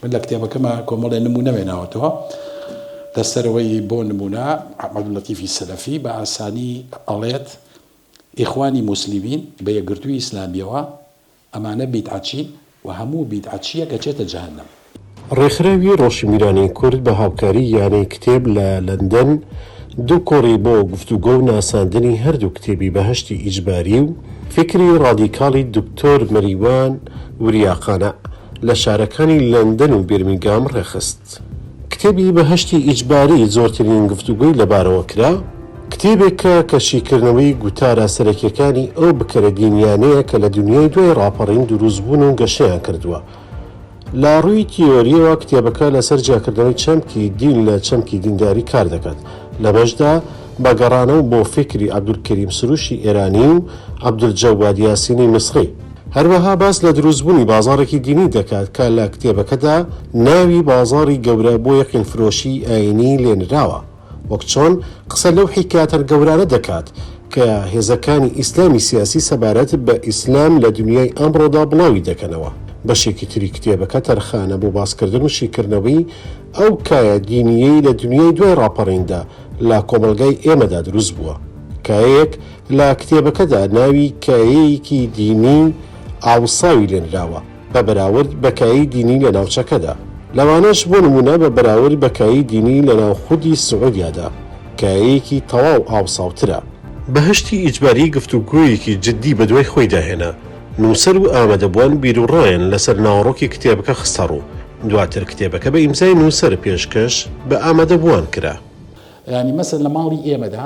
من لە کتێبەکەما کۆمەڵێ نموونە وێناوەتەوە لە سەرەوەی بۆ نموونە عەبدول لەتیفی سەلەفی بە ئاسانی ئەڵێت ئیخوانی موسلیمین بە یەکگرتووی ئیسلامیەوە ئەمانە بیدعەچین و هەموو بیدعەچییەک ئەچێتە جەهەنەم. ڕێکخراوی ڕۆشنبیرانی کورد بە هاوکاری یانەی کتێب لە لەندەن دوو کۆڕی بۆ گفتوگۆ و ناساندنی هەردوو کتێبی بەهەشتی ئیجباری و فیکری ڕادیکاڵی دکتۆر مەریوان وریاقانە، لە شارەکانی لەندەن و بیرمینگام ڕێکخست. کتێبی بەهەشتی ئیجباری زۆرترین گفتوگۆی لەبارەوە کرا، کتێبێکە کە شیکردنەوەی گوتارە سەرەکییەکانی ئەو بکەرە دینییانەیە کە لە دونیای دوای ڕاپەڕین دروستبوون و گەشەیان کردووە. لە ڕووی تیۆرییەوە کتێبەکە لەسەر جیاکردنەوەی چەمکی دین لە چەمکی دینداری کار دەکات، لەمەشدا بە گەڕانەوە بۆ فیکری عەبدولکەریم سروشی ئێرانی و عەبدولجەواد یاسینی میسڕی. هەروەها باس لە دروستبوونی بازاڕێکی دینی دەکات کە لە کتێبەکەدا ناوی بازاڕی گەورە بۆ یەقینفرۆشیی ئایینی لێ نراوە، وەک چۆن قسە لەو حیکایەتە گەورانە دەکات کە هێزەکانی ئیسلامی سیاسی سەبارەت بە ئیسلام لە دنیای ئەمڕۆدا بڵاوی دەکەنەوە. بەشێکی تری کتێبەکە تەرخانە بۆ باسکردن و شیکردنەوەی ئەو کایە دینییەی لە دنیای دوای ڕاپەڕیندا لە کۆمەڵگای ئێمەدا دروست بووە، کایەیەک لە کتێبەکەدا ناوی کایەیەکی دینیی ئاوساوی لێنراوە بە بەراورد بە کایەی دینیی لە ناوچەکەدا، لەوانەش بۆ نموونە بە بەراورد بە کایەی دینیی لە ناو خودی سعودیادا، کایەیەکی تەواو ئاوساوترە. بەهەشتی ئیجباری گفتوگۆیەکی جددی بەدوای خۆیدا هێنا، نووسەر و ئامادەبووان بیروڕایان لەسەر ناوەڕۆکی کتێبەکە خستەڕوو، دواتر کتێبەکە بە ئیمزای نووسەر پێشکەش بە ئامادەبووان کرا. یانی مەسەن لە ماڵی ئێمەدا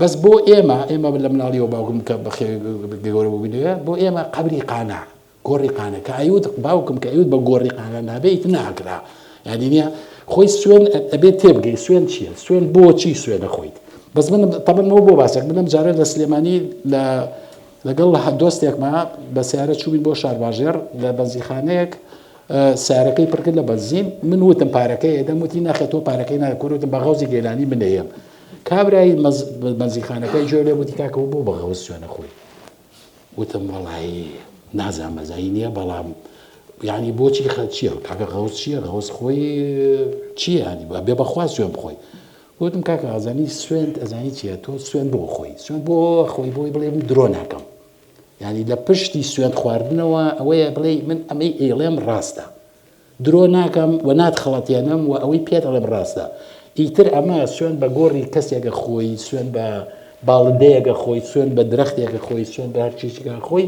بەس بۆ ئێمە ئێمە لە مناڵیەوە باوکم کە گەورە بووبینەوە بۆ ئێمە قەبری قانە گۆڕی قانە کە ئەیوت باوکم کە ئەیوت بە گۆڕی قانە نابێت ناکرا یادی نیە خۆی سوێن ئەبێت تێبگەی سوێن چییە سوێن بۆچی سوێنە خۆیت بەس من تەبنەوە بۆ باسێک منم جارە لە سلێمانی لە لەگەڵ لە دۆستێکمە بە سیارە چوین بۆ شارباژێر لە بەنزیخانەیەک سارەکەی پڕکرد لە بەنزین من وتم پارەکەی ئێدەم وتی ناخێت تۆ پارەکەی ناکورتم بە غەوزی گەلانی منەیەم کابرای بەنزیخانەکەی جوێ لێ وتی کاکە بۆ بە غەوز سوێ نەخۆی وتم وەڵایی نازان مەزایی نییە بەڵام یعنی بۆچی خەت چییە کاکە غەوز چییە غەوز خۆی چییە ینی بە بێ بەخوا سوێن بخۆی وتم کاکە ئازانی سوێنت ئەزانی چیە تۆ سوێن بۆ خۆی سوێن بۆ خۆی بۆی بڵێ من درۆ ناکەم ینی لە پشتی سوێن خواردنەوە ئەوەیە بڵێ من ئەمەی ئێڵێم ڕاستە درۆ ناکەم و ناتخڵەتێنم و ئەوەی پێت ئەڵێم ڕاستە. ئیتر ئەمە سوێند بە گۆڕی کەسێکە خۆی، سوێند بە باڵندەیەکە خۆی، سوێند بە درەختێکە خۆی، سوێند بە هەر چیزێکە خۆی،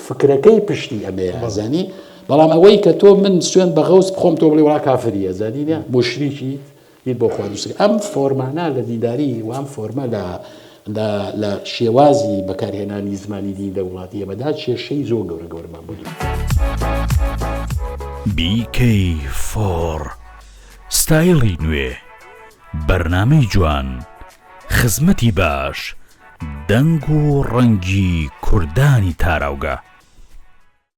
فکرەکەی پشتی ئەمەیە، زانی؟ بەڵام ئەوەی کە تۆ من سوێند بە غەوس بخۆم تۆ بڵێی وەڵا کافری ئەزانی، موشریکیت، بیر بۆ خوا دووست ئەم فۆرمانە لە دیداری وام فۆرمە لە لە شێوازی بەکارهێنانی زمانی دی لە وڵاتی ئێمەدا کێشەی زۆر گەورە گەورمان بۆ دوو بیکەی فۆڕ ستایڵی نوێ بەرنمەی جوان خزمەتی باش دەنگ و ڕەنگی کوردانی تاراوگە.